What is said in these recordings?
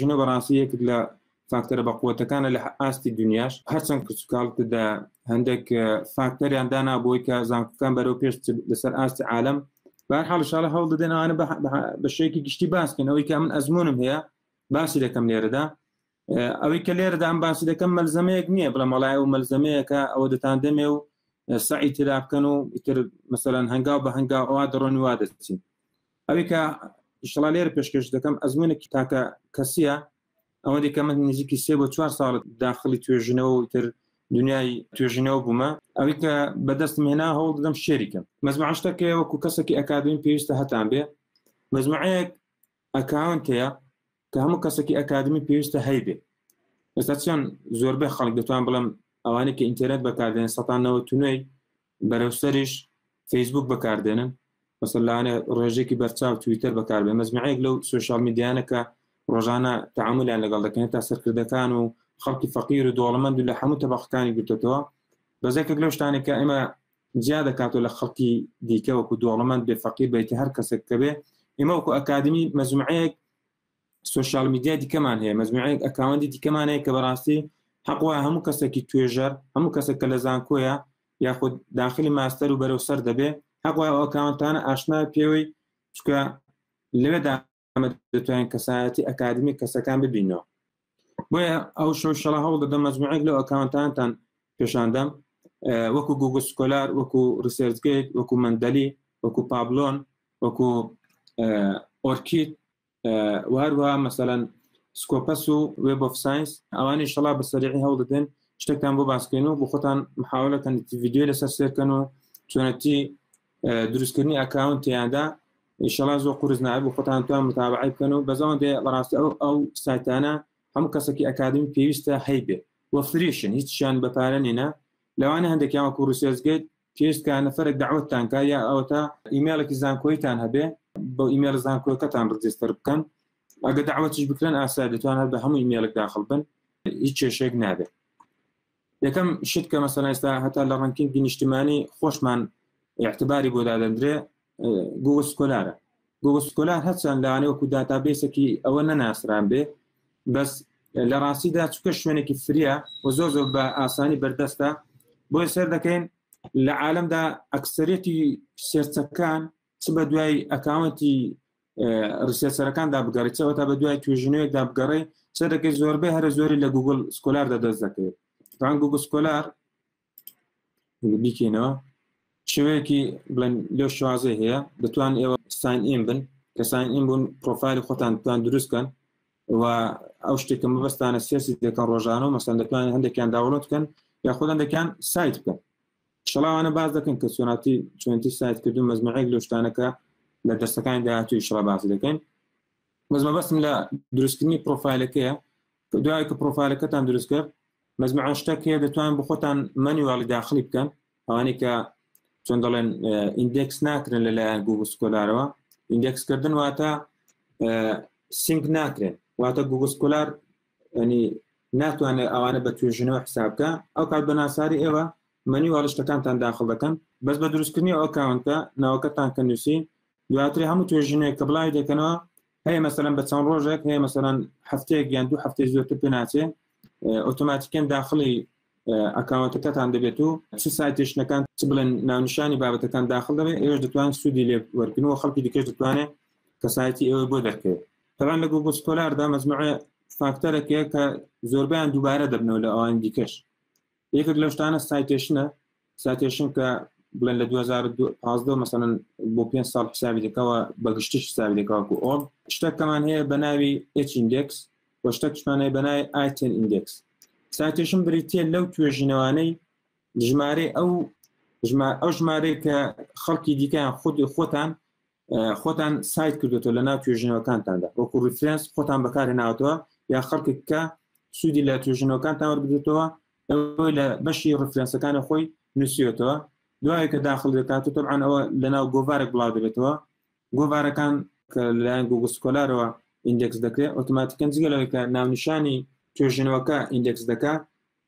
ژنە بەڕاستی یەکێک لە فاکتەرە بەقوەتەکانە لە ئاستی دنیاش هەرچەند کچکاڵتدا هەندێک فاکتەریان دانا بۆی کە زانکەکان بەرەو پێش لەسەر ئاستی عالم بار حاڵشاڵە هەوڵ دەدەنانە بە شێکی گشتی باسکەن ئەوەی کە من ئەزمونم هەیە باسی دەکەم لێرەدا ئەوەی کە لێرەدا ئەم باسی دەکەم مەلزەمەیەک نییە بڵە مەڵای و مەلزەمەیەەکە ئەوە دەتان دەمێ و سعی ترابکەن و ئیتر مەسەرەن هەنگاو بە هەنگاو ئەوە دەڕۆنی وا دەچین ئەوەی کە ئیشڵا لێرە پێشکەش دەکەم ئەزمونێکی تاکە کەسیە ئەوە دیکە من نزیکی سێ بۆ چوار ساڵ داخلی توێژینەوە و تر دنیای توێژینەوە بوومە ئەوی کە بەدەست مێنا هەوڵ دەم شێریکەم مەزمعشتەکە وەکو کەسێکی ئەکادمی پێویستە هەتان بێ مەزمعەیەک ئەکاونتەیە کە هەموو کەسێکی ئەکادمی پێویستە هەیبێ ئێستا چۆن زۆربەی خەڵک دەتوان بڵم ئەوانەی کە ئینتەرنێت بەکاردێن سەتانەوە تونوێی بەرەو سەریش فەیسبووک بەکاردێنن مەسەن لاانێ ڕێژێکی بەرچاو تویتەر بەکاربێن مەزمعەیەک لەو سوۆشال میدیانە کە ڕۆژانە تعاملیان لەگەڵ دەکەن تا سەرکردەکان و خەڵکی فەقیر و دۆڵمەند و لە هەموو تەبقەکانی گرتێتەوە بەزێکێک لەو شتانێک کە ئێمە جیا دەکات و لە خەڵکی دیکە وەکو دۆڵمەند بێ فەقیر بیت هەر کەسێک کە بێ ئێمە وەکو ئەکادمی مەزمعەیەک سوشال میدیای دیکەمان هەیە مەجموعەیەک ئەکاوەندی دیکەمان هەیە کە بەڕاستی حەقوە هەموو کەسێکی توێژەر هەموو کەسێک کە لە زانکۆیە یاخود داخلی ماستەر و بەرەو سەر دەبێ حەقوە ئەوکاونتانە ئاشنا پێوەی چکە لەوێدا ئەمە دەتوانین کەسایەتی ئەکادمی کەسەکان ببینەوە بۆیە ئەو شەشەڵە هەوڵ دەدە مەجموعێک لە ئەکاونتانتان پێشاندەم وەکو گوگو سکۆلار وەکو ریسێرجگەیت وەکو مندەلی وەکو پابلۆن وەکو ئۆرکیت و هەروها مەسەەن سکۆپەس و وێب of ساینس ئەوانی شڵا بە سەرعی هەوڵدەدەن شتێکتان بۆ باسکەن و بۆ خۆتان محاولەکەن ڤیددیو لەسەر سێرکەن و چۆنەتی دروستکردنی ئەکاون تیادا شڵا زۆ قرس نابوو خۆتان توان متابعی بکەن و بەزەوان دێ بەڕاستی ئەو ئەو سایتانە هەموو کەسێکی ئەکادمی پێویستە هەیبێ وە فریشن هیچیان بەپارە نینە لەوانە هەندێکیان وەکو ڕوسێزگەیت پێویست کە نەفەرێک دەعوەتتان کا یا ئەوەتا ئیمێڵێکی زانکۆیتان هەبێ بۆ ئیمێل زانکۆەکەتان ڕجستەر بکەن ئەگە داوەتیش بکرێن ئاسا دەتوان هەر بە هەموو ئیمێلک داخل بن هیچ کێشێک نابێت یەکەم شت کە مەسەلا ئێستا هەتا لە ڕنکینگی نیشتمانی خۆشمان اعتباری بۆ دادەندرێ گوگڵ سکۆلارە گوگڵ سکۆلار هەرچەند لەوانێ وەکو داتابێسێکی ئەوە نەناسران بێ بەس لە ڕاستیدا چکە شوێنێکی فریا و زۆر زۆر بە ئاسانی بەردەستە بۆی سەر دەکەین لە عالمدا ئەکسەرەتی سێرچەکان چ بە دوای ئەکاونتی ڕسێسەرەکاندا بگەڕیتەوە تا بە دوای توێژنەوەیەکدا بگەڕی سەرەکەی زۆربەی هەرە زۆری لە گوگل سکۆلاردا دەست دەکەوێت تان گوگل سکۆلار بیکەینەوە شوەیەکی بڵێن لە شوازێ هەیە دەتوان ئێوە ساین ئیم بن کە ساین ئیم بوون پرۆفایل خۆتان بتوان دروستکەن و ئەو شتێکە مەبەستانە سێسی دەکەن ڕۆژانە و مەسەن دەتوان هەندێکیان داوڵۆت بکەن یا خۆدان دەکەن سایت بکەن شڵاوانە باز دەکەن کە سۆناتی چۆنتی سایت کردو مەزمەعێک لە شتانەکە لە دەستەکانی داهاتوی شڵا باز دەکەن مەزمە بەسم لە دروستکردنی پرۆفایلەکەیە دوای کە پرۆفایلەکەتان دروستکرد مەزمعان شتەک هەیە دەتوان بۆ خۆتان مەنیواڵی داخلی بکەن ئەوانەی کە چۆن دەڵێن ئیندێکس ناکرن لەلایەن گوگل سکۆلارەوە ئیندێکس کردن واتە سینک ناکرێن واتە گوگل سکۆلار ینی ناتوانێت ئەوانە بە توێژنەوە حسابکە ئەو کات بە ناساری ئێوە مەنی واڵشتەکانتان داخڵ دەکەن بەس بە دروستکردنی ئەو کاونتە ناوەکەتان کە نووسی دواتر هەموو توێژینەوەیەک کە بڵاوی دەکەنەوە هەیە مەسەرەن بە چەند ڕۆژێک هەیە مەسەرەن هەفتەیەک یان دوو هەفتەی زۆرتر پێ ناچێ ئۆتۆماتیکەن داخلی ئەکاونتەکەتان دەبێت و چ سایتێشنەکان چ بڵێن ناونشانی بابەتەکان داخل دەبێت ئێوەش دەتوان سوودی لێ وەرگن و خەڵکی دیکەش دەتوانێت کەسایەتی ئێوە بۆ دەکرێت تەوان لە گوگل سکۆلاردا مەزموعە فاکتەرەکەیە کە زۆربیان دووبارە دەبنەوە لە ئەوان دیکەش یەکێک لەو شتانە سایتێشنە ساتێشن کە بڵێن لە 2015 مەسەن بۆ پێ ساڵ حسابی دەکەوە بەگشتیش حسابی دەکەوەکو ئۆب شتەکەمان هەیە بە ناوی ئچیندکس و شتەکشمانەیە بەنای ئایتن ئیندکس ساتێشن بریتە لەو توێژینەوانەی ژمارەی ئەو ئەو ژمارەی کە خەڵکی دیکەیان خودی خۆتان خۆتان سایت کردێتەوە لە ناو توێژنەوەکانتاندا وەکو ریفرنس خۆتان بەکارهێناوتەوە یا خەڵکێک کە سوودی لە توێژنەوەکان تاوەربێتەوە ئەوەی لە بەشی ڕفرەنسەکانی خۆی نووسیێتەوە دوای کە داخل دەکات و تەبان ئەوە لەناو گۆڤارێک بڵاو دەبێتەوە گۆڤارەکان کە لایەن گوگل سکۆلارەوە ئیندێکس دەکرێت ئۆتوماتیکەن جگە لەوەی کە ناونیشانی توێژنەوەکە ئیندێکس دەکات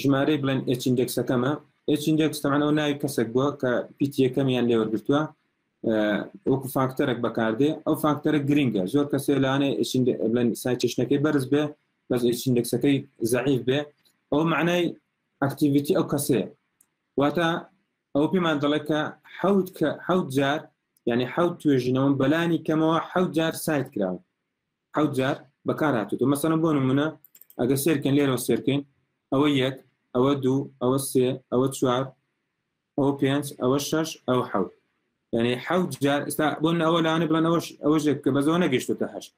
ژمارەی بڵێن ئێچ ئیندێکسەکەمە ئێچ ئیندێکس تەمان ئەو ناوی کەسێک بووە کە پیتی یەکەمیان لێوەرگتووە وەکو فاکتەرێک بەکاردێ ئەو فاکتەرە گرنگە زۆر کەسێ لانێ بڵێن سایچشنەکەی بەرز بێ بەس ئێچ ئیندێکسەکەی زعیف بێ ئەو معنای ئەکتیڤیتی ئەو کەسێ واتە ئەو پێمان دەڵێت کە حوت کە حوت جار یعنی حوت توێژینەوەم بەلانی کەمەوە حوت جار سایت کراوە حەوت جار بەکار هاتووە مەسەلەن بۆ نمونە ئەگە سێرکەن لێرەوە سێرکەین ئەوە یەک ئەوە دوو ئەوە سێ ئەوە چوار ئەوە پێنج ئەوە شەش ئەو حەوت یعنی حەوت جار ئستا بۆ ئەوە لاانە بڵێن ئەوەش ئەوە ژێک کە بەزەوە نەگەشتێتە هەشت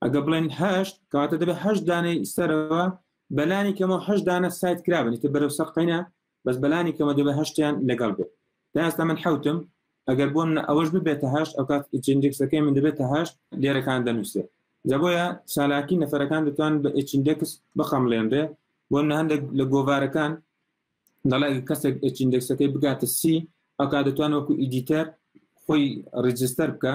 ئەگە بڵێن هەشت کاتە دەبێت هەشت دانەی سەرەوە بەلانی کەمەوە هەش دانە سایت کرابنیتە بەرەو سەقینە بەس بەلانی کەمە دەبێ هەشتیان لەگەڵ بێت تا ئێستا من حوتم ئەگەر بۆ من ئەوەش ببێتە هەشت ئەو کات ئچندێکسەکەی من دەبێتە هەشت لێرەکان دەنووسێت جەبۆیە چالاکی نەفەرەکان دەتوان بە ئچندێکس بخەمڵێنرێ بۆ هەندێک لە گۆوارەکان دەڵێ کەسێک ئچندێکسەکەی بگاتە سی ئەو کا دەتوان وەکو ئیدیتەر خۆی ڕجستەر بکە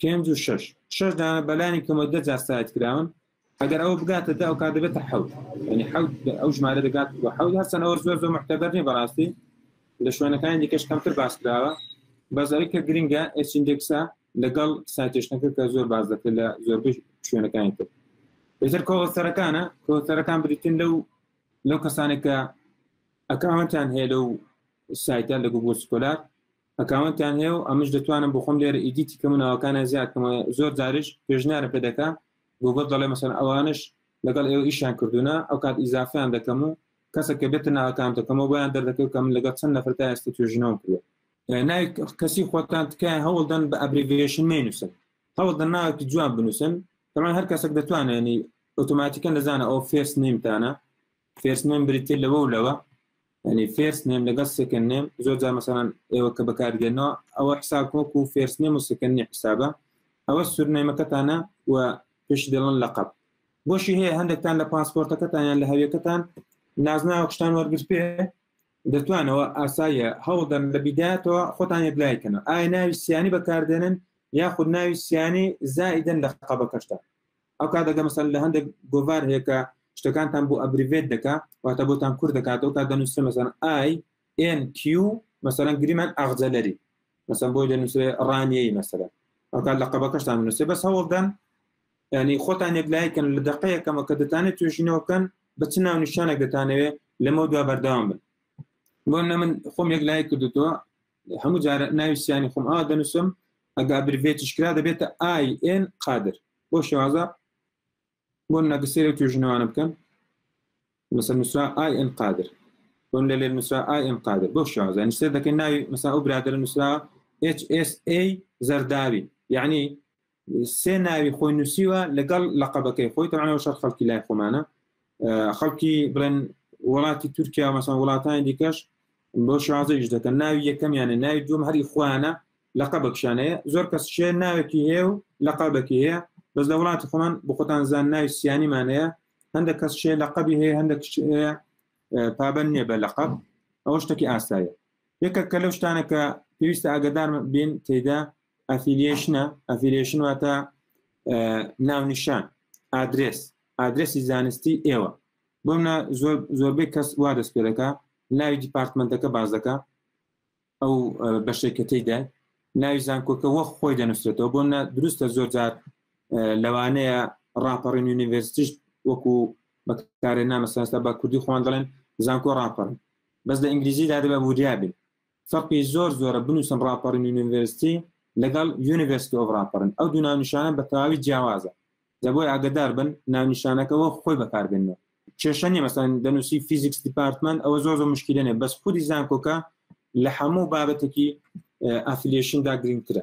پێنج و شەش شەش دانە بەلانی کەمە دە جار ساعت کراون ئەگەر ئەو بگاتە دا ئەو کار دەبێتە حەوت ینی حەوت ئەو ژمارە دەگات بۆ حەوت هەستن ئەوە زۆر زۆر محتەبەر نیە بەڕاستی لە شوێنەکانی دیکەش کەمتر باس کراوە بەزاری کە گرنگە ئەسیندێکسا لەگەڵ ساتێشتەکە کە زۆر باز دەکرێت لە زۆربەی شوێنەکانی تر بێتر کۆسەرەکانە کۆسەرەکان بریتن لەو لەو کەسانێکە ئەکەمەتان هەیە لەو سایتە لە گوگل سکۆلار ئەکاونتیان هەیە و ئەمش دەتوانم بۆ خۆم لێرە ئیدیتی کەم و ناوەکانیان زیاد کەمە زۆر جاریش پێشنیارم پێ دەکا گوگڵ دەڵێ مەسەن ئەوانش لەگەڵ ئێوە ئیشیان کردوونە ئەو کات ئیزافیان دەکەم و کەسە کە بێتە ناوەکان دەکەمەوە بۆیان دەردەکەوت کە من لەگەڵ چەند نەفر تا ئێستا توێژینەوەم کردوە ناوی کەسی خۆتان تکایە هەوڵدەن بە ئەبریڤێشن مێنووسن هەوڵدەن ناوێکی جوان بنووسن تەمان هەر کەسێک دەتوانێنی ئۆتۆماتیکە نەزانە ئەو فێس نیمتانە فێرس نێم بریتێ لەوە و لەوە ینی فێرس نێم لەگەڵ سکن نێم زۆر جا مەسەن ئێوە کە بەکاردێنەوە ئەوە حساب وەک و فێرس نێم و سکنی حسابە ئەوە سورنەیمەکەتانە و پێش دەڵن لەقب بۆشی هەیە هەندێکتان لە پاسپۆرتەکەتانیان لە هەویەکەتان نازناوە قشتان وەرگر پێ دەتوانەوە ئاساییە هەوڵدەن لە بیداتەوە خۆتان یەکلایکەنەوە ئایا ناوی سیانی بەکاردێنن یاخود ناوی سیانی زائیدن لە قەبەکەشتان ئەو کات ئەگەر مەسەلەن لە هەندێک گۆڤار هەیە کە شتەکانتان بۆ ئەبریڤێت دەکا واتە بۆتان کورت دەکات ئەو کات دەنووسێ مەسەلەن ئای ئێن کیو مەسەلەن گریمان ئاغجەلەری مەسەن بۆی دەنووسێ ڕانیەی مەسەلە ئەو کات لە قەبەکەشتان نووسێ بەس هەوڵدەن ینی خۆتان یەکلایکن لە دقەیەکەمە کە دەتانێت توێژینەوەکەن بە چ ناو نیشانێک دەتانەوێت لەمە دوا بەردەوام بن بۆ نە من خۆم یەک لای کردوتەوە هەموو جارە ناوی سیانی خۆم ئا دەنووسم ئەگا برڤێتیش کرا دەبێتە ئای ئێن قادر بۆ شێوازە بۆ نەگەسێرە توێژنەوانە بکەن مثل نووسرا ئای ئێن قادر بۆن لە لێ نووسرا ئای ئێن قادر بۆ شێوازە نووسێ دەکەن ناوی مەسا ئەو برادرە نووسرا HSA زەرداوی یعنی سێ ناوی خۆی نووسیوە لەگەڵ لەقەبەکەی خۆی تەوان ئەو شەر خەڵکی لای خۆمانە خەڵکی بڵێن وڵاتی تورکیا مەسان وڵاتانی دیکەش بۆ شازەیش دەکەن ناوی یەکەمیانە ناوی دوم هەری خوانە لەقە بەکشانەیە زۆر کەس شێ ناوێکی هەیە و لەقا بەکی هەیە بەس لە وڵاتی خۆمان بخۆتان زان ناوی سیانیمانەیە هەندە کەس شێ لە قەبی هەیە هەندە پابەن نیە بە لە قەب ئەوە شتێکی ئاسایە یەکە کە لەو شتانە کە پێویستە ئاگدار بین تێدا ئەفیلیشنە ئەفیلیشن واتە ناونیشان ئادرس ئادرسی زانستی ئێوە بۆمە زۆر زۆربەی کەس وا دەست پێ دەکە ناوی دیپارتمنتەکە باز دەکە ئەو بەشێکەکەی دای ناوی زانکۆکە وە خۆی دەنووسێتەوە بۆ نە دروستە زۆر جار لەوانەیە ڕاپەڕین یونیڤرسیش وەکو بەکارێ نامەسەستا بە کوردی خوان دەڵێن زانکۆ ڕاپەڕن بەس لە ئینگلیزیدا دەبە وریابێت فەرقی زۆر زۆرە بنووسن ڕاپەڕین یونیڤێرستی لەگەڵ یونیڤێرسیتی ئۆف ڕاپەڕین ئەو دوو ناونیشانە بە تەواوی جیاوازە جا بۆیە ئاگەدار بن ناونیشانەکە وەک خۆی بەکاربێنەوە کێشە نیە مەسەن دەنووسی فیزیکس دیپارتمان ئەوە زۆر زۆر مشکلە نیە بەس خودی زانکۆکە لە هەموو بابەتێکی ئەفلیشندا گرنگترە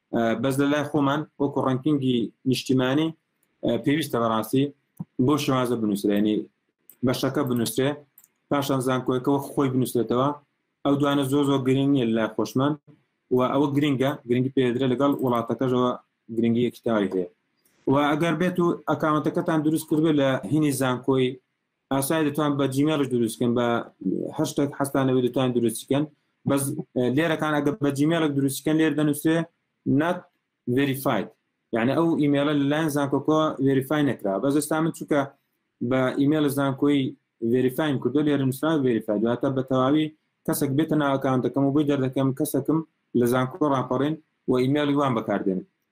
بەس لە لای خۆمان وەکو ڕنکینگی نیشتیمانی پێویستە بەڕاستی بۆ شێوازە بنووسرێنی بەشەکە بنووسێ پاشان زانکۆیەکەەوە خۆی بنووسێتەوە ئەو دوانە زۆ زۆ گرنگ نیە لە خۆشمان و ئەوە گرنگە گرنگی پێدرێ لەگەڵ وڵاتەکەشەوە گرنگی یەکتاوی هەیە و ئەگەر بێت و ئەکاونتەکەتان دروست کردێت لە هینی زانکۆی ئاسای دەتوان بە جیمێڵش دروستکەن بە هەر شتێک حستانەوەی دەتوان دروستکەن بەس لێرەکان ئەگە بە جیمێڵک دروستکەن لێر دەنووسێ نات ڤریفاید یعنی ئەو ئیمێلە لەلایەن زانکۆکۆ ڤریفای نەکرا بە زستا من چووکە بە ئیمێل زانکۆی ڤریفایم کردو لێرە نووسرا ڤریفای دواتە بە تەواوی کەسێک بێتە ناوەکان دەکەم و بۆی دەردەکەم کەسەکەم لە زانکۆ ڕاپەڕێن و ئیمێڵی وان بەکاردێن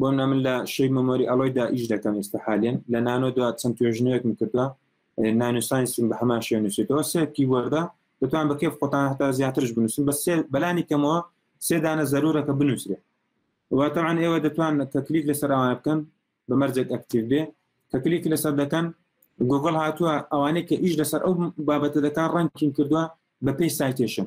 بۆ منە من لە شەی مەمۆری ئەڵۆیدا ئیش دەکەم ئێستا حالێن لە نانۆ دو چەند توێژنەوەکم کردووە نانوسانسیم بە هەمان شێ نووسێتەوە سێکی وەردا دەتوان بە کێف خۆتان هەتا زیاترش بنووسن بە سێ بەلانی کەمەوە سێدانە زەرورەکە بنووسێت واتەوان ئێوە دەتوان کە کلیک لەسەر ئەوان بکەن بە مەرجێک ئەکتیو بێ کە کلیک لەسەر دەکەن گوگل هاتووە ئەوانەی کە ئیش لەسەر ئەو بابەتە دەکان ڕەنکین کردووە بە پێی سایتێشن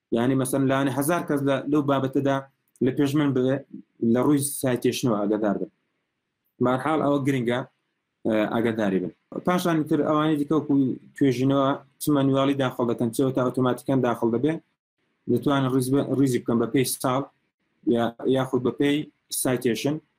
یعنی مەسەن لاێ هزار کەس لەو بابەتەدا لە پێش من بێ لە ڕووی سایتێشنەوە ئەگەدار بن مارحاڵ ئەوە گرنگە ئاگەداری بن پاشان تر ئەوانی دیکەکو توێژینەوە چ مەنواڵی داخڵ دەکەن چەوە تا ئۆتۆماتیکان داخڵ دەبێت دەتوانن ڕیزی بکەم بە پێی ساڵ یاخود بە پێی سایتێشن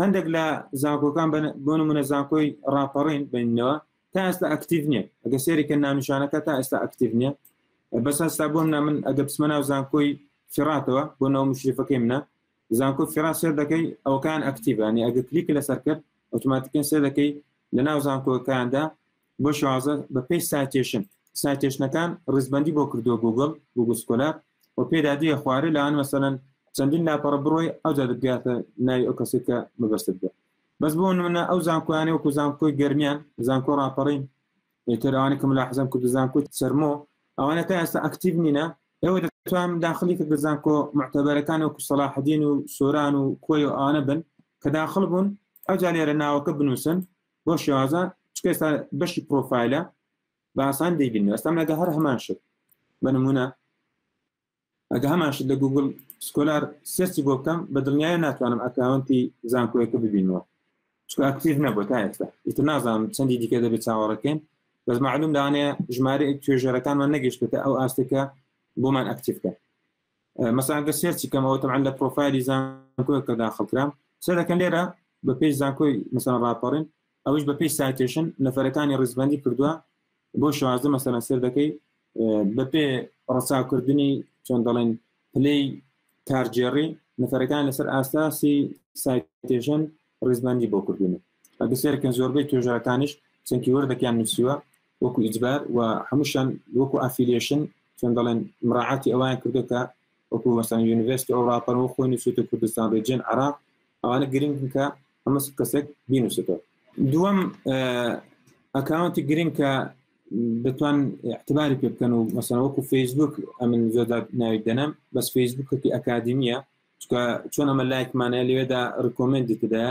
هەندێک لە زانکۆکان بۆ نمونە زانکۆی ڕاپەڕین بینەوە تا ئێستا ئەکتیڤ نیە ئەگە سێریکە ناونیشانەکە تا ئێستا ئەکتیڤ نیە بەس هەستا بۆم نا من ئەگە بسمە ناو زانکۆی فێڕاتەوە بۆ ناو مشریفەکەی منە زانکۆ فێرا سێر دەکەی ئەوکان ئەکتیڤانی ئەگە کلیک لەسەر کرد ئۆتوماتیکن سێ دەکەی لە ناو زانکۆکاندا بۆ شازە بە پێی سایتێشن سایتێشنەکان ڕیزبەندی بۆ کردووە گوگل گوگل سکۆلا و پێدا دیە خوارێ لاان مەسەەن چەندین لاپەڕە بڕۆی ئەو دەبگاتە ناوی ئەو کەسێک کە مەبەستت بێت بەس بۆ منە ئەو زانکۆیانە وەکو زانکۆی گەرمیان زانکۆ ڕاپەڕین ئێتەرانی کەم لە حزم کرد زانکۆی سەرمۆ ئەوانە تا ئێستا ئەکتیب نینە ئێوە دەتوان داخلی کە زانکۆ معتەبەرەکان وەکو سەلاحدین و سۆران و کۆی و ئانە بن کە داخل بوون ئەو جا لێرە ناوەکە بنووسن بۆ شێوازە چکە ئێستا بەشی پرۆفایلە باسان دەیبین ئێستا مەگە هەر هەمان شت بە نمونە ئەگە هەمان شت لە گوگل سکۆلار سێسی بۆ بکەم بە دڵنیایە ناتوانم ئەکاونتی زانکۆیەکە ببینەوە چکە ئەکتیڤ نەبوو تا ئێستا ئیتر نازانم چەندی دیکە دەبێت چاوەڕەکەین بەس معلوم دانێ ژمارە توێژەرەکانمان نەگەشتێتە ئەو ئاستێکە بۆمان ئەکتیفکە مەسەن ئەگەر سێرچی کەم ئەوە تەعەن لە پرۆفایلی زانکۆ کە داخڵ کرام سەر دەکەن لێرە بە پێی زانکۆی مەسەن ڕاپەڕین ئەوش بە پێی سایتێشن نەفەرەکانی ڕزبندی کردووە بۆ شازدە مەسەن سەر دەکەی بە پێ ڕساکردنی چۆن دەڵێن پلەی کارجێڕی نەفەرەکان لەسەر ئاساسی سایتێژن ڕیزبەندی بۆ کردوونە ئەگە سێرکەن زۆربەی توێژەرەکانیش چەنکی وەردەکیان نووسیوە وەکو ئیجبار و هەمووشان وەکو ئافیلیشن چۆن دەڵێن مراعاتی ئەوان کردو کە وەکو مەسان یونیڤێست ئەو ڕاپەرەوە خۆی نووسێتە کوردستان ڕێجێن عراق ئەوانە گرنگ کە ئەمە کەسێک بینوسێتەوە دووەم ئەکاونتی گرنگ کە دەتوان احتباری پێ بکەن و مەسەن وەکو فەیسبوک ئەمن زۆر ناوی دەنم بەس فەیسبوکەکی ئەکادیمیە چکە چۆن ئەمە لایکمانە لێدا ڕکۆمنتی تدا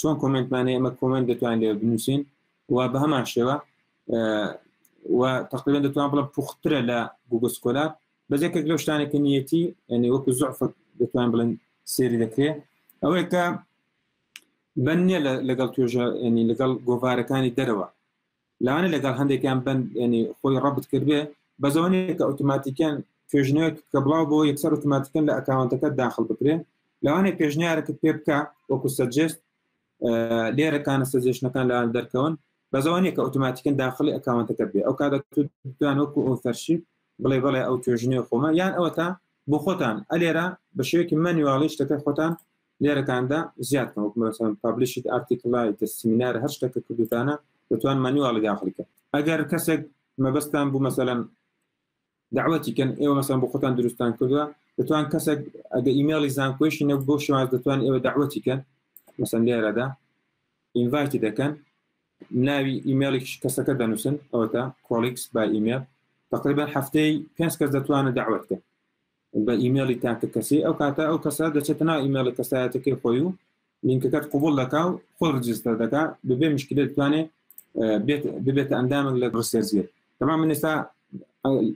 چۆن کۆمنتمانە ئەمە کۆمنت دەتوان لێ بنووسین و بە هەمان شێوە و تقریبا دەتوان بڵم پوخترە لە گوگل سکۆلا بەجێکە لەو شتانێکە نیەتی ئەنی وەکو زعف دەتوان بڵێن سێری دەکرێت ئەوەیە کە بەنیە لەگەڵ توێژە ینی لەگەڵ گۆڤارەکانی دەرەوە لەوانە لەگەڵ هەندێکیان بن ینی خۆی ڕبت کردێ بەزۆنێک کە ئۆتوماتیکیان توێژنەوەێک کە بڵاو بۆ یەکسەر ئۆتوماتیکن لە ئەکاونتەکە داخل بکرێن لەوانێک پێشنیارەکە پێ بکە وەکو سەجست لێرەکانە سەجێشنەکان لەوان دەرکەون بەزۆنێک کە ئۆتوماتیکن داخلی ئەکاونتەکە بێ ئەو کاتە توان وەکو ئەو فەرشی بڵێ بڵێ ئەو توێژنێ خۆمە یان ئەوە تا بۆ خۆتان ئەلێرە بە شێوەیەکی مەنیواڵی شتەکە خۆتان لێرەتاندا زیاد کەم وەک مەسەن پابلیشت ئارتیکڵ لایک سمینار هەر شتەکە کردوتانە دەتوان مەنیواڵی داخلکە ئەگەر کەسێک مەبەستان بوو مەسەلەن داوەتی کەن ئێوە مەسەن بۆ خۆتان دروستان کردووە دەتوان کەسێک ئەگە ئیمێڵی زانکۆشی نە بۆ شێواز دەتوان ئێوە داوەتی کەن مەسەن لێرەدا ئینڤایتی دەکەن ناوی ئیمێڵی کەسەکە دەنووسن ئەوە تا کۆڵیکس با ئیمێل تقریبا هەفتەی پێنج کەس دەتوانە داوەت کەن بە ئیمێڵی تاکە کەسی ئەو کاتە ئەو کەسە دەچێتە ناو ئیمێڵی کەسایەتەکەی خۆی و لینکەکەت قوبڵ دەکا و خۆی ڕجستەر دەکا ببێ مشکلێت بتوانێ ببێتە ئەندامێک لە ڕسێرزیێت تەما من ئێستا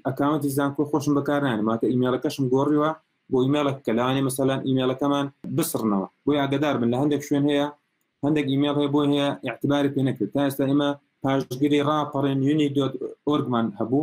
ئەکاونتی زانکۆ خۆشم بەکارنان ماتە ئیمێڵەکەشم گۆڕیوە بۆ ئیمێڵە کە لەوانێ مەسەلان ئیمێڵەکەمان بسڕنەوە بۆی ئاگدار بن لە هەندێک شوێن هەیە هەندێک ئیمێڵ هەیە بۆ هەیە اعتباری پێ نەکرد تا ئێستا ئێمە پاشگیری ڕاپەڕێن یونی دۆت ئۆرگمان هەبوو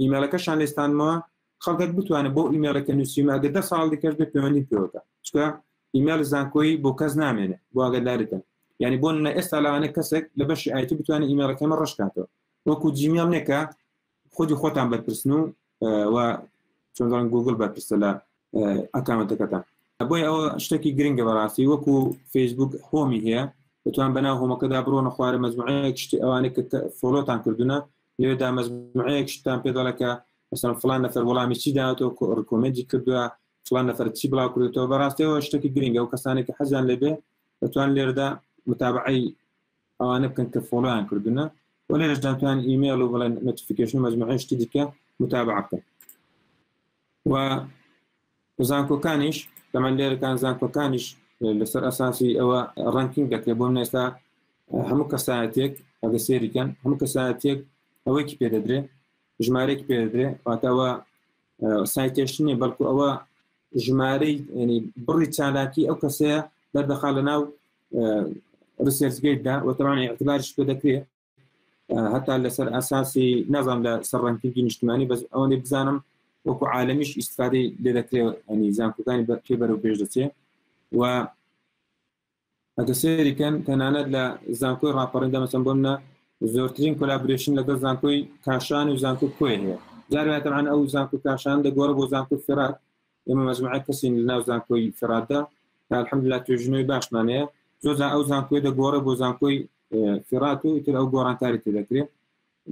ئیمێلەکەشان لێستانمەوە خەڵکەت بتوانێت بۆ ئیمێلەکە نووسیمە ئەگە دە ساڵ دیکەش بێ پەیوەندی پێوەکە چکە ئیمێل زانکۆی بۆ کەس نامێنێت بۆ ئەگەدارتن یعنی بۆ نە ئێستا لەوانە کەسێک لە بەشی ئایتی بتوانێت ئیمێلەکەمە ڕشکاتەوە وەکو جیمیان نێکە خودی خۆتان بەرپرسن و و چۆندان گوگل بەرپرسە لە ئەکامەتەکەتان بۆی ئەوە شتێکی گرنگە بەڕاستی وەکو فەیسبوک هۆمی هەیە بتوان بەناو هۆمەکەدا بڕۆنە خوارە مەزمعەیە شتی ئەوانێک کە فۆلۆتان کردوونە لێدا مەزمعەیەک شتان پێ دەڵێ کە مثلا فلان نەفەر وەڵامی چی داوەتەوە ڕکۆمنتی کردووە فلان نەفەر چی بڵاو کردێتەوە بەڕاستەوە شتێکی گرنگە و کەسانێکی حەزیان لەبێ دەتوان لێردا متابعی ئەوانە بکەن کە فۆڵیان کردنە و لێرشداتوان ئیمێل و بڵێن نوتیفیکشن مەزمعشتی دیکە متابع بکەن و زانکۆکانیش لەمە لێرەکان زانکۆکانیش لەسەر ئەساسی ئەوە ڕنکینگ دەکرێت بۆم نێستا هەموو کەسایەتێک ئەگە سێریکەن هەموو کەسایەتێک ئەوەیکی پێ دەدرێ ژمارێک پێ دەدرێ واتەوە سایتێشتنی بەڵکو ئەوە ژمارەی ینی بڕی چالاکی ئەو کەسەیە دەردەخا لە ناو ڕسێرزگەیتدا وەتەوان اعتبارش پێ دەکرێت هەتا لەسەر ئاساسی نازان لە سەر ڕنکردی نیشتمانی بەس ئەوەی بزانم وەکو عاالمیش ئیسفادی لێ دەکرێت ئەنی زانکۆکانی بەکێ بەرەو پێش دەچێت و ئەگە سێریکەن تەنانەت لە زانکۆی ڕاپەڕێندا مەسم بۆم نە زۆرترین کۆلابرشن لەگەڵ زانکۆی کاشان و زانکۆ کوێ هەیە جاراتەمان ئەو زانکو کاشان دەگۆڕە بۆ زانکو فرات ئێمە مەجموعە کەسین لە ناو زانکۆی فێراتدا الحمدلله توێژینەوەی باشمان هەیە زۆرجار ئەو زانکۆی دەگۆڕێ بۆ زانکۆی فێرات و ئیتر ئەو گۆڕانکاری تێ دەکرێت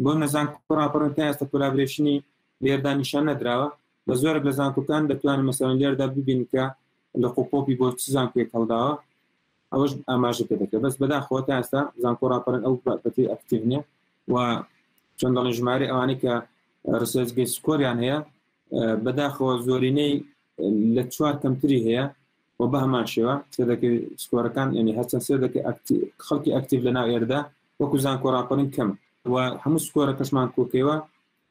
بۆ نەزان کوڕاپڕن تا ئێستا کولابرێشنی لێردا نیشان نەدراوە بە زۆرە لە زانکۆکان دەتوانین مەسەرەن لێردا ببین کە لە قوپۆپی بۆ چ زانکوێک هەڵداوە ئەوەش ئاماژە پێ دەکرێت بەس بەداخەوە تا ئێستا زانکۆ راپەرن ئەو بەتی ئەکتیڤنیە و چەند دەڵێن ژمارە ئەوانەی کە ڕسێزگەی سکۆریان هەیە بەداخەوە زۆرینەی لە چوار کەمتری هەیە و بە هەمان شێوە سێدەکەی سکۆرەکان ینی هەرچەند سێدەکەی خەڵکی ئەکتیف لە ناو ئێردا وەکو زانکۆ راپەرین کەم و هەموو سکۆرە کەسمان کۆکەوە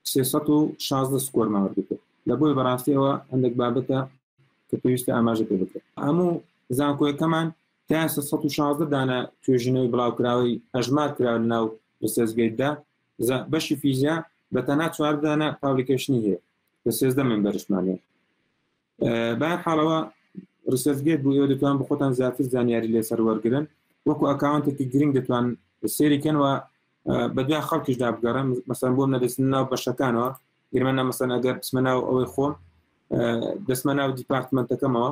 316 سکۆرمان وەرگتە لە بۆی بەڕاستی ئەوە هەندێک بابەتە کە پێویستە ئاماژە پێ بکرێت هەموو زانکۆیەکەمان تا 16 دانە توێژینەوەی بڵاوکراوەی هەژمار کرا لە ناو لە سێزگەیتدا زە بەشی فیزیا بە تەنها چوار دانە پابلیکەشنی هەیە لە سێزدە من بەرشمانێ با حاڵەوە ڕسەرگێت بوو ئێوە دەتوان بخۆتان زیاتر زانیاری لێسەر وەرگن وەکو ئەکاونتێکی گرنگ دەتوان سێریکەن و بەدوای خەڵکیشدا بگەڕن مەسەن بۆم نەدەستن ناو بەشەکانەوە گرمە نامەسەن ئەگەر بسمە ناو ئەوەی خۆم دەستمە ناو دیپارتمنتەکەمەوە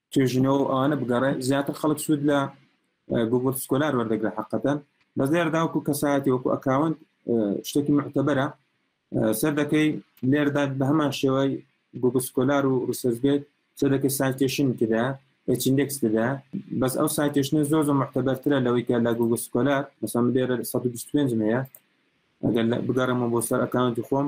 توێژینەوەو ئەوانە بگەڕێ زیاتر خەڵک سوود لە گوگل سکۆلار وەردەگرە حقەتەن بەس لێرداوەکو کەسایەتی وەکو ئەکاونت شتێکی معتەبەرە سەر دەکەی لێردا بە هەمان شێوەی گوگل سکۆلار و ڕسەرگێت سەر دەکەی سایتێشن تدا ئەچندێکس تدا بەس ئەو سایتێشنە زۆر زۆر معتەبەرترە لەوەی کە لە گوگل سکۆلار بەسەم لێرە 125 هەیە ئەگەر بگەڕمە بۆ سەر ئەکاونتی خۆم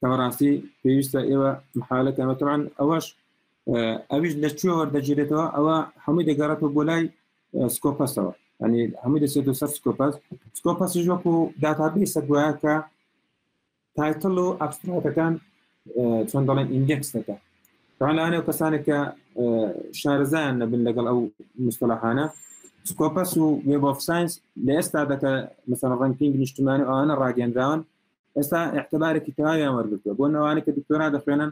بەڕاستی پێویستە ئێوە محالەکەەوە تەوان ئەوەش ئەویش لە کوێ وەردەگیرێتەوە ئەوە هەمووی دەگەڕێتەوە بۆ لای سکۆپەسەوە ئەنی هەمووی دەسێت و سەر سکۆپەس سکۆپەسیش وەکو داتابیسە گوایە کە تایتل و ئەبستراکەکان چۆن دەڵێن ئیندێکس دەکە ڕانانە و کەسانێک کە شارەزایان نەبن لەگەڵ ئەو مستەلاحانە سکۆپەس و وێب ئۆف ساینس لە ئێستا دەکە مەسەن ڕنکینگ نیشتمانی ئەوانە ڕاگەندراون ئێستا احتبارێکی تەواویان وەرگتووە بۆ نەوانە کە دکتۆرا دەخوێنن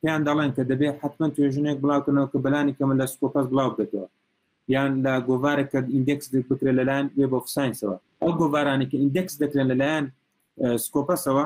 پێیان دەڵێن کە دەبێت حتمما توێژنێک بڵاوکردنەوە کە بەلانی کەمە لە سکۆپەس بڵاو بێتەوە یان لە گۆوارێک کە ئیندێکس بکرێ لەلایەن وێب ئۆف ساینسەوە ئەو گۆوارانی کە ئیندێکس دەکرێن لەلایەن سکۆپەسەوە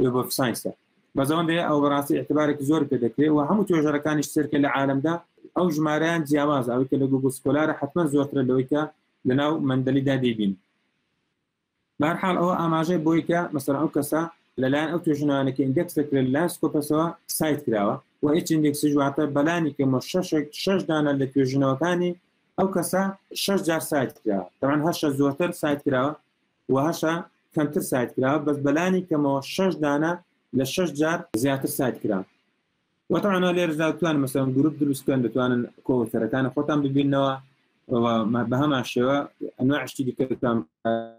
وێب ئۆف ساینسە بەزەوەندێ ئەو بەڕاستی اعتبارێکی زۆر پێ دەکرێت و هەموو توێژەرەکانی سرکە لە عالمدا ئەو ژمارەیان جیاواز ئەوی کە لە گوگل سکۆلارە حتممە زۆرترە لەوەیکە لەناو مندەلیدا دەبین بارحاڵ ئەوە ئاماژەی بۆی کە مەسەر ئەو کەسە لەلایەن ئەو توێژنانەکە ئیندێکس دەکرێت لە سکۆپەسەوە سایت کراوە و هیچ ئیندێکسی جواتە بەلانی کەمە شەشێک شش دانە لە توێژنەوەکانی ئەو کەسە شش جار سایت کراوە تەمان هەشە زۆرتر سایت کراوە وهشە کەمتر ساید کرا بەس بەلانی کەمەوە شەش دانە لە شەش جار زیاتر ساید کرا وە تەعانا لێرزا توان مەسەن گروپ دروست کەن دەتوانن کۆوتەرەکان خۆتان ببینەوە بەهەمان شێوە ئەنواشتی دیکەتان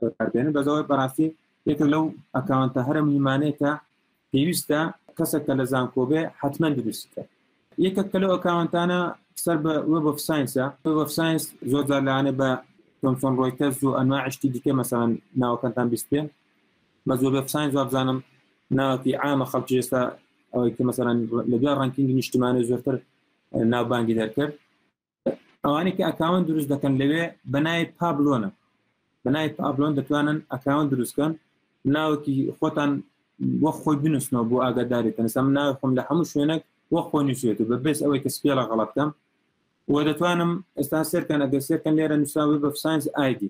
بەکاربێنن بەزەوەی بەڕاستی یەکە لەو ئەکاونتە هەرە مهمانەیە کە پێویستە کەسەک کە لە زانکۆ بێ حتمما دروستی کە یەکەک کە لەو ئەکاونتانە سەر بە وێب ئۆف ساینسە وێب ئۆف ساینس زۆر جار لەانێ بە تۆمسۆن ڕۆیتەرز و ئەنواعشتی دیکە مەسەن ناوەکەتان بیست پێ بە زۆر وێب ساینس وابزانم ناوەکی ئامە خەڵکی ئێستا ئەوەی کە مەسەن لە دوای ڕنکینگی نیشتمانە زۆرتر ناوبانگی دەرکرد ئەوانی کە ئەکاون دروست دەکەن لەوێ بەنای پابلۆنە بەنای پابلۆن دەتوانن ئەکاون دروستکەن ناوکی خۆتان وە خۆی بنووسنەوە بۆ ئاگاداری تەنسەم ناوی خۆم لە هەموو شوێنێک وە خۆی نووسێت و بە بێس ئەوەی کە سپێڵە غەڵەتکەم وە دەتوانم ئێستا سێرکەن ئەگە سێرکەن لێرە نووسراوی بە ساینس ئایدی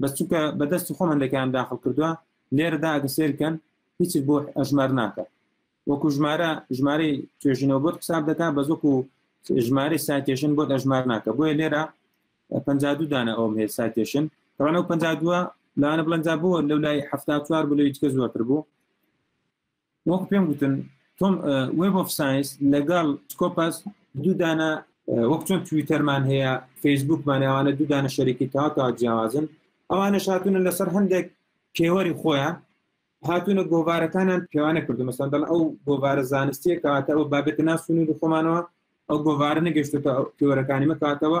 بەس چونکە بە دەستی خۆم هەندەکان داخل کردووە لێرەدا ئەگە سێرکەن هیچ بۆ ئەژمار ناکە وەکو ژمارە ژمارەی توێژینەوە بۆت حساب دەکات بە زۆکو ژمارەی ساتێشن بۆت ئەژمار ناکە بۆیە لێرە پ دانە ئەوم هەیە ساتێشن ڕانە و پ دووە لاانە بڵنجا بووە لەو لای هەفتا چوار بلویتکە زۆرتر بوو وەکو پێم گوتن تۆم وێب ئۆف ساینس لەگەڵ سکۆپەس دوو دانە وەک چۆن تویتەرمان هەیە فەیسبوکمان ئەوانە دوو دانە شەرێکی تا تا جیاوازن ئەوانە شاتونە لەسەر هەندێک پێوەری خۆیان هاتوونە گۆوارەکانیان پێوانە کردو مەسەن دەڵ ئەو گۆوارە زانستیە کاتە ئەو بابێتە ناسونی خۆمانەوە ئەو گۆوارە نەگەشتێتە پێوەرەکانی مەکاتەوە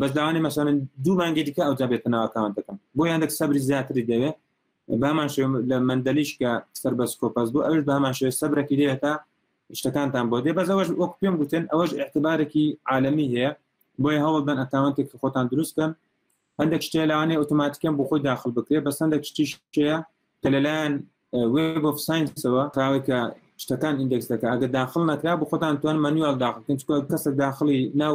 بەس داوانێ مەسەن دوو مانگی دیکە ئەوجا بێتە ناوەکان دەکەم بۆ یاندێک سەبری زیاتری دەوێت بامان شێ لە مندەلیش کە سەر بەس کۆپەس بوو ئەوش بامان شێ سەبرەکی دێتە شتەکانتان بۆ دێ بەس ئەوەش وەک پێم گوتن ئەوەش اعتبارێکی عالمی هەیە بۆی هەوڵ بەن ئەتاوانتێک خۆتان دروستکەن هەندێک شتێ لاوانێ ئۆتۆماتیکەم بۆ خۆی داخل بکرێت بەس هەندێک شتیش شەیە کە لەلایەن وێب of ساینسەوە کاوەی کە شتەکان ئیندێکس دەکە ئەگە داخل نەکرا بۆ خۆتان توان مەنیوال داخلکن چکە کەسە داخلی ناو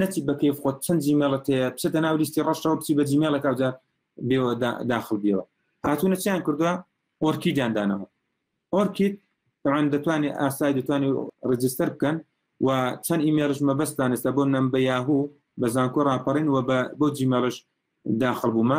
نەچیت بە کەیف خۆت چەند جیمێڵت هەیە بچێتە ناو لیستی ڕەشەوە بچی بە جیمێڵێک ئەوجا بێەوە داخل بیەوە هاتوونە چیان کردووە ئۆرکیدیان دانەوە ئۆرکید ئەوان دەتوانێت ئاسای دەتوانێت ڕجستەر بکەن و چەند ئیمێرش مەبەستان ئێستا بۆ نەم بە یاهوو بە زانکۆ ڕاپەڕین و بۆ جیمێڵش داخل بوومە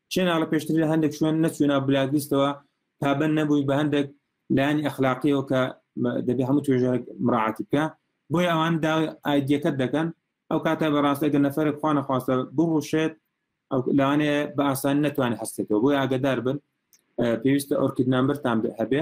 چێناڵە پێشتر لە هەندێک شوێن نەچوونا بلاگلیستەوە پابەن نەبووی بە هەندێک لایانی ئەخلاقیەوە کە دەبێ هەموو توێژە مراعاتی بکە بۆی ئەوان دا ئایدیەکەت دەکەن ئەو کاتە بەڕاستە گە نەفرە خوانە خواستە بڕوشێت ئەو لەوانەیە بە ئاسان نتوانێت هەستێتەوە بۆی ئاگدار بن پێویستە ئۆرکیدنامبەرتان هەبێ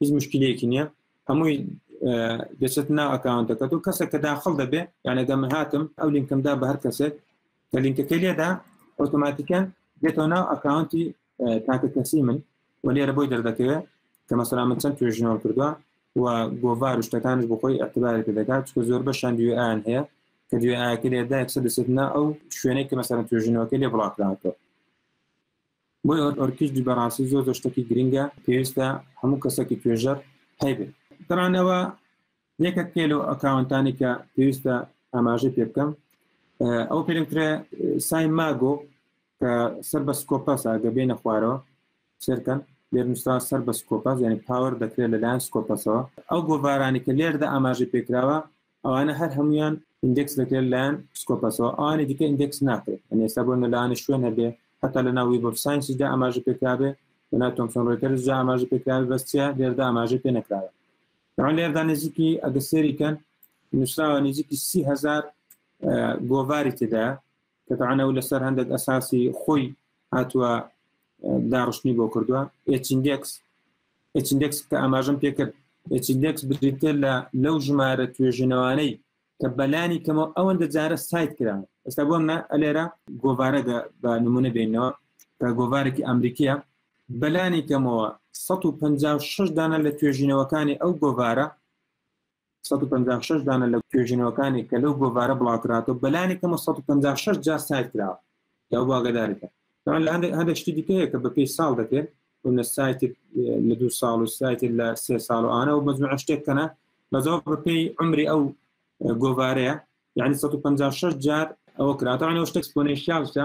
هیچ مشکلەیەکی نییە هەمووی دەچێت نا ئەکاونتەکەت و کەسە کە داخل دەبێ یانەگە من هاتم ئەو لینکمدا بە هەر کەسێک کە لینکەکە لێدا ئۆتۆماتیکەن دێتەوە ناو ئەکاونتی تاکە کەسی من و لێرە بۆی دەردەکەوێت کە مەسەلا من چەند توێژنەوە کردووە و گۆڤار و شتەکانش بۆ خۆی ئەتبارێک دەکات چکە زۆر بە شان دوێ ئاان هەیە کە دوێ ئاکە لێدا یەکسە دەسێتنا ئەو شوێنێک کە مەسەرە توێژنەوەکە لێ بڵاکراوەکە بۆیە ئۆت ئۆرکیشدی بەڕاستی زۆر زۆر شتەکی گرنگە پێویستە هەموو کەسەکی توێژەر هەیبێ ترانەوە یەکە پێ لەو ئەکاونتانی کە پێویستە ئاماژەی پێ بکەم ئەو پێترێ سای ماگۆ کە سەر بە سکۆپەس ئاگە بێنە خوارەوە سێرکەن لێرنووسرا سەر بە سکۆپەس یعنی پاوەەر دەکرێت لەلایەن سکۆپەسەوە ئەو گۆڤارانی کە لێردا ئاماژە پێکراوە ئەوانە هەر هەمویان ئیندێکس دەکرێت لایەن پسکۆپەسەوە ئەوانی دیکە ئیندێکس ناکرێت ئەنێستا بۆ نەلایەنە شوێن هەبێ هەتا لە ناوی بۆ ساینسیدا ئاماژە پێکرابێ لە ناو تۆمسۆن ڕێتەرز جا ئاماژە پێکراوی بەستیا لێردا ئاماژە پێ نەکراوە ئەوان لێردا نزیکی ئەگە سێریکەن نووسراوە نزیکی سیهزار گۆڤاری تێدا قەتعەن ئەو لەسەر هەندێک ئەساسی خۆی هاتووە داڕشتنی بۆ کردووە ئچیندێکس ئچیندێکس کە ئاماژم پێکرد ئچیندێکس بریتە لە لەو ژمارە توێژنەوانەی کە بەلانی کەمە ئەوەندە جارە سایت کرا ئێستا بۆم نە ئەلێرە گۆوارە بە نمونە بینەوە کە گۆوارێکی ئەمریکیە بەلانی کەمەوە 156 دانە لە توێژینەوەکانی ئەو گۆوارە سەد و پەنجا و شەش دانە لە توێژینەوەکانی کە لەو گۆڤارە بڵاوکراتەوە بەلانی کەمە سەد و پەنجا و شەش جار سایر کراوە کە بۆ ئاگاداری کە تەوان لە هەندێک هەندێک شتی دیکەیە کە بە پێی ساڵ دەکرێت ونە سایتێک لە دوو ساڵ و سایتێک لە سێ ساڵ و ئانە و مەجموعە شتێک کەنە بەزەوە بە پێی عمری ئەو گۆڤارەیە یعنی 156 جار ئەوە کراتەوە ئەوە شتێک سپۆنێشیالشە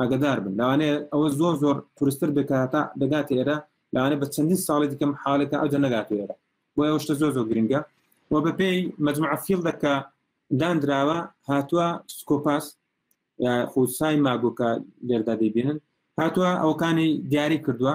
ئاگەدار بن لەوانەیە ئەوە زۆر زۆر قورستر بێت کە هەتا دەگاتە ئێرە لەوانەیە بە چەندین ساڵی دیکەم حالەکە ئەوجە نەگاتە ئێرە بۆیە ئەو شتە زۆر زۆر گرنگە و بەپێی مجموعە فیلدە کە دانراوە هاتووە سکۆپاس خودسای ماگۆکە لێردا دەبینن هاتووە ئەوکانی دیاری کردووە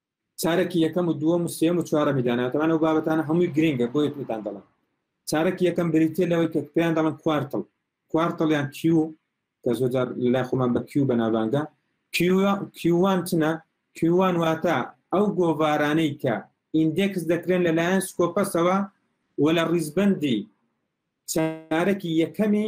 چارەکی یەکەم و دووەم و سێم و چوارەمی داناتەوانە و بابەتانە هەمووی گرنگە بۆ یەکتان دەڵم چارەکی یەکەم بریتە لەوەی کە پێیان دەڵم کوارتڵ کوارتڵیان کیو کە زۆجار لای خۆمان بە کیو بەناواندا کیوان چنە کیوان واتە ئەو گۆڤارانەی کە ئیندێکس دەکرێن لەلایەن سکۆپەسەوە و لە ڕیزبندی چارەکی یەکەمی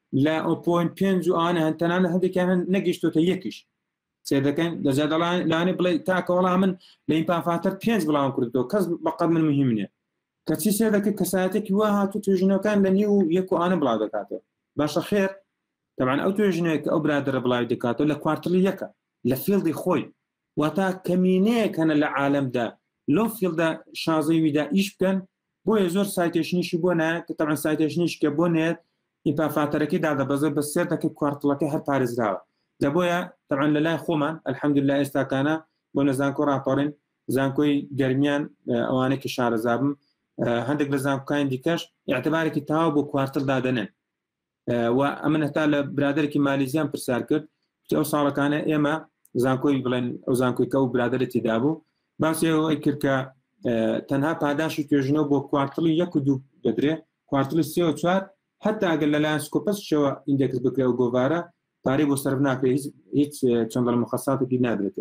لە ئۆپۆین پێنج و ئانە هەن تەنانە هەندێکیان هەن نەگەشتوتە یەکیش سێ دەکەن لەجا دەڵان لانی بڵێ تاکە وەڵام من لە ئیمپافاتەر پێنج بڵام کردەوە کەس بەقەت من مهم نیە کەچی سێ دەکە کەساتێکی وا هاتو توێژینەکان لە نیو یەک و ئانە بڵا دەکاتەوە باشە خێر تەمان ئەو توێژینەیە کە ئەو برادرە بڵاوی دەکاتەوە لە کوارتلی یەکە لە فیلدی خۆی واتا کەمینەیەک هەنە لە عالەمدا لەو فیلدا شازەی ویدا ئیش بکەن بۆیە زۆر سایتێشنیشی بۆ نایە کە تەعەن سایتێشنیش کە بۆ نێت ئیپافاتەرەکەی دادەبەزێت بە سێر دەکە کوارتڵەکە هەر پارێزراوە لە بۆیە تەعەن لە لای خۆمان ئەلحەمدللا ئێستاکانە بۆ نەزانکۆ راپەڕین زانکۆی گەرمیان ئەوانە کە شارەزابم هەندێک لە زانکۆکانی دیکەش اعتبارێکی تاوا بۆ کوارتل دادەنێن و ئەمن هەتا لە برادێکی مالیزیان پرسیار کرد ئەو ساڵەکانە ئێمە زانکۆی بڵێن ئەو زانکۆی کە و برادێتی دابوو باسی ئەوەی کرد کە تەنها پاداشی توێژنەوە بۆ کوارتڵی یەک و دوو دەدرێ کوارتڵی سێ و چوار حتا ئەگەر لە لایەن سکۆپەسشەوە ئیندێکس بکرێ و گۆوارە پارەی بۆ سەر ناکرێت هیچ چەندڵ مخصاتێکی نادرێت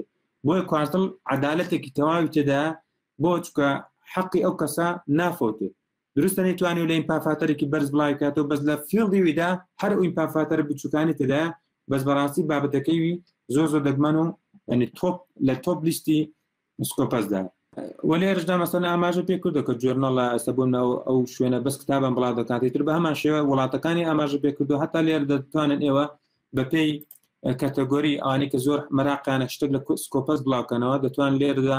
بۆیە کوارتڵ عدالەتێکی تەواوی تێدا بۆ چکە حەقی ئەو کەسە نافۆتێ دروستە نەیتوانی و لە ئیمپافاتەرێکی بەرز بڵای بکاتەوە بەس لە فیڵدی ویدا هەر ئەو ئیمپافاتەرە بچووکانی تێدا بەس بەڕاستی بابەتەکەی وی زۆر زۆر دەگمەن و ینی تۆپ لە تۆپ لیستی سکۆپەسدا وەلێ ڕژدا مەسەن ئاماژە پێ کردو کە جۆرنەڵە ئەسە بۆ ناو ئەو شوێنە بەس کتابم بڵاو دەکاتی تر بە هەمان شێوە وڵاتەکانی ئاماژە پێ کردو هەتا لێر دەتوانن ئێوە بەپێی کەتەگۆری ئانی کە زۆر مەراقیانە شتێک لە سکۆپەس بڵاوکەنەوە دەتوان لێردا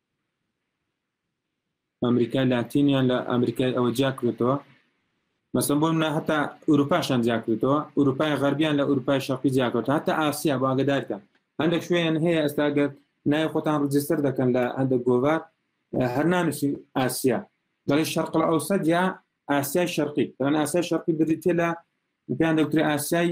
ئەمریکای لاتینیان لە ئەمریکای ئەوە جیاکرێتەوە مەسم بۆ منە هەتا ئوروپاشان جیاکرێتەوە ئوروپای غەربیان لە ئوروپای شەقی جیاکرێت هەتا ئاسیا بۆ ئاگدارکەن هەندێک شوێن هەیە ئەستاگەر نای خۆتان ڕجستەر دەکەن لە هەندێک گۆڤار هەرنانوسی ئاسیا دەڵێ شەرقل ئەو سەدیا ئاسیای شەرقی دەڵێن ئاسای شەرقی بریتە لە پێیان دەوتری ئاسیای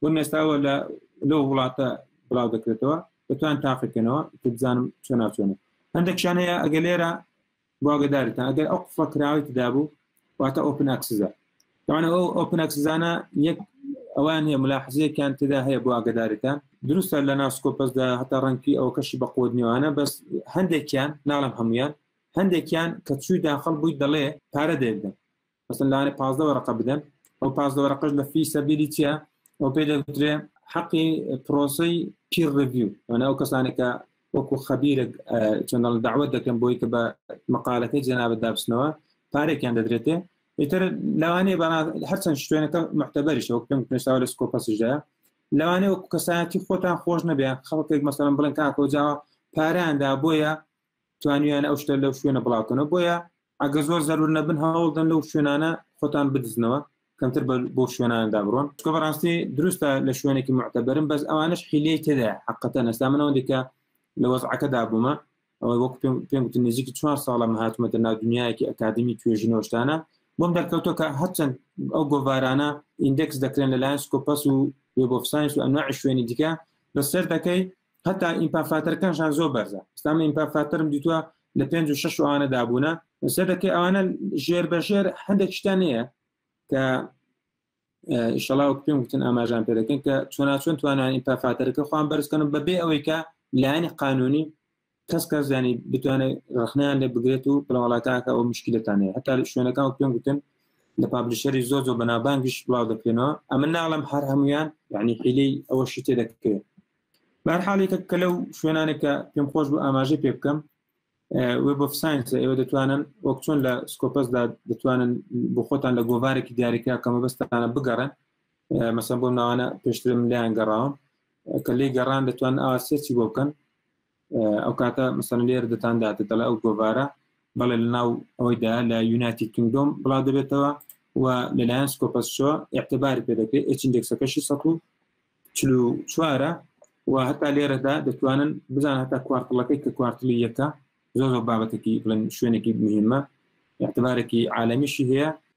بۆ نێستاوە لە لەو وڵاتە بڵاو دەکرێتەوە دەتوان تاقیکەنەوە بزانم چۆنا چۆنە هەندێکشانەیە ئەگە لێرە بواگەدارتان ئەگەر ئەو قفڵە کراوەی تدابوو واتە ئۆپن ئەکسزە ئەوانە ئەو ئۆپن ئەکسزانە یەک ئەوان هەیە ملاحزەیەکیان تدا هەیە بۆ ئاگدارەکان دروستە لە ناسکۆپەسدا هەتا ڕەنگی ئەو کەشی بە قوت نیوانە بەس هەندێکیان ناڵم هەمویان هەندێکیان کە چووی داخل بووی دەڵێ پارە دەێدە مثلا لەوانەیە پازدە وەرەقە بدەن ئەو پازدە وەرەقەش لە فی سەبیلی چیە ئەو پێ دەگوترێ حەقی پرۆسی پیر ڕڤیو وەنا ئەو کەسانێکە وەکو خەبیرە چەندڵ داوت دەکەم بۆی کە بە مقالەکەی جەنابەت دابسنەوە پارێکیان دەدرێتێ ئیتر لەوانەیە بە هەرچەند شوێنەکە محتەبەریشە وەک پێم پێشتاوە لە سکۆپەسیشدا لەوانێ وەکو کەسایەتی خۆتان خۆش نەبێ خەڵکێک مەسەرم بڵێن کاکۆجاوە پاراندا بۆیە توانیان ئەو شتە لەو شوێنە بڵاوکەنەوە بۆیە ئەگەر زۆر زەرور نەبن هەوڵدەن لەو شوێنانە خۆتان بدزنەوە کەمتر بۆ شوێناندا بڕۆن چکە بەڕاستی دروستە لە شوێنێکی معتەبرم بەس ئەوانش حیلەی تێدا حقەتە نەستا منەوە دیکە لە وەزعەکەدا بوومە ئەوەی وەک پێم گوتن نزیکی چوار ساڵە مەهاتمەتە ناو دنیایەکی ئەکادمی توێژینەوەشتانە بۆم دەرکەوتۆکە هەرچەند ئەو گۆڤارانە ئیندێکس دەکرێن لەلایەن سکۆپەس و وێبۆفساینس و ئەنواع شوێنی دیکە بەسەر دەکەی هەتا ئیمپافاتەرەکانشان زۆر بەرزە ئستامە ئیمپافاتەرم دیتوە لە پێ و شش ئەوانە دابوونە سێدەکەی ئەوانە ژێر بە ژێر هەندێک شتان نیە کە ئیشەڵا و پێم وتن ئاماژان پێ دەکەن کە چۆناچۆن توانان ئیمپافاتەرەکە خۆیان بەرزکەن بەبێ ئەوەی کە لایەنی قانونی کەس کەس زیانی بتوانێت رخنیان لێ بگرێت و بڵاوڵاتاکە ئەو مشکلتانەیە هەتا شوێنەکان و پێم وتن لە پابلیشەری زۆ زۆ بەنابانگیش بڵاو دەکرێنەوە ئەمە ناڵم هەر هەمویان یعنی حیلەی ئەوە شتێ دەکرێت بارحاڵێکە کە لەو شوێنانێک کە پێم خۆش بوو ئاماژە پێ بکەم وێ بۆ ساینس ئێوە دەتوانن وەک چۆن لە سکۆپەسدا دەتوانن بۆ خۆتان لە گۆڤارێکی دیاریکرا کەمە بەستانە بگەڕن مەسە بۆ ناوانە پێشترم لیان گەڕاوم کە لی گەڕان دەتوان ئاسێکی بۆ بکەن ئەو کاتە مەسەن لێر دەتان داات دەڵێ ئەو گۆڤارە بەڵێ لە ناو ئەوەیدا لە یوناتی کنگدۆم بڵا دەبێتەوە و لەلایەن سکۆپەسشۆ اعتبار پێ دەکرێت ئچندێکسەکەشی سە و چلو چوارە و هەتا لێرەدا دەتوانن بزان هەتا کوارتڵەکەی کە کوارتلی یەکە زۆر بابەتێکی بڵێن شوێنێکی مهمە اعتبارێکی عالمیشی هەیە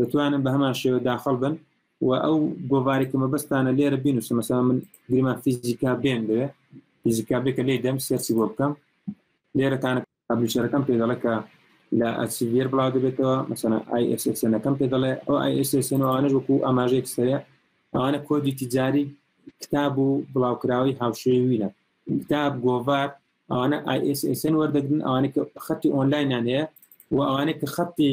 دەتوانن بە هەمان شێوە داخڵ بن و ئەو گۆڤاری کە مەبەستانە لێرە بینوسە مەسا من گریمان فیزیکا بێن دەوێ فیزیکا بێکە لێ دەم سێرسی بۆ بکەم لێرەتانە پابلیشەرەکەم پێ دەڵێ کە لە ئەسیڤێر بڵاو دەبێتەوە مەسەنە ئایSSنەکەم پێ دەڵێ ئەو ئایSSن ئەوانەش وەکو ئاماژەیەک سەرە ئەوانە کۆدی تجاری کتاب و بڵاوکراوی هاوشێوینە کتاب گۆڤار ئەوانە ئایSSن وەردەگرن ئەوانە کە خەتی ئۆنلاینان هەیە و ئەوانە کە خەتی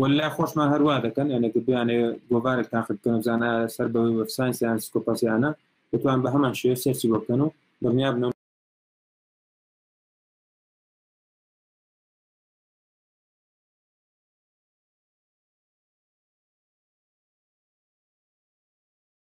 ولا خۆشمان هەروا دەکەن یانە گردیانێ گۆڤارێک تاقت بکەن زانە سەر بە وەفسانس یان سکۆپاسیانە دەتوان بە هەمان شێ سەرچی بۆ بکەن و دڵنیا بنەوە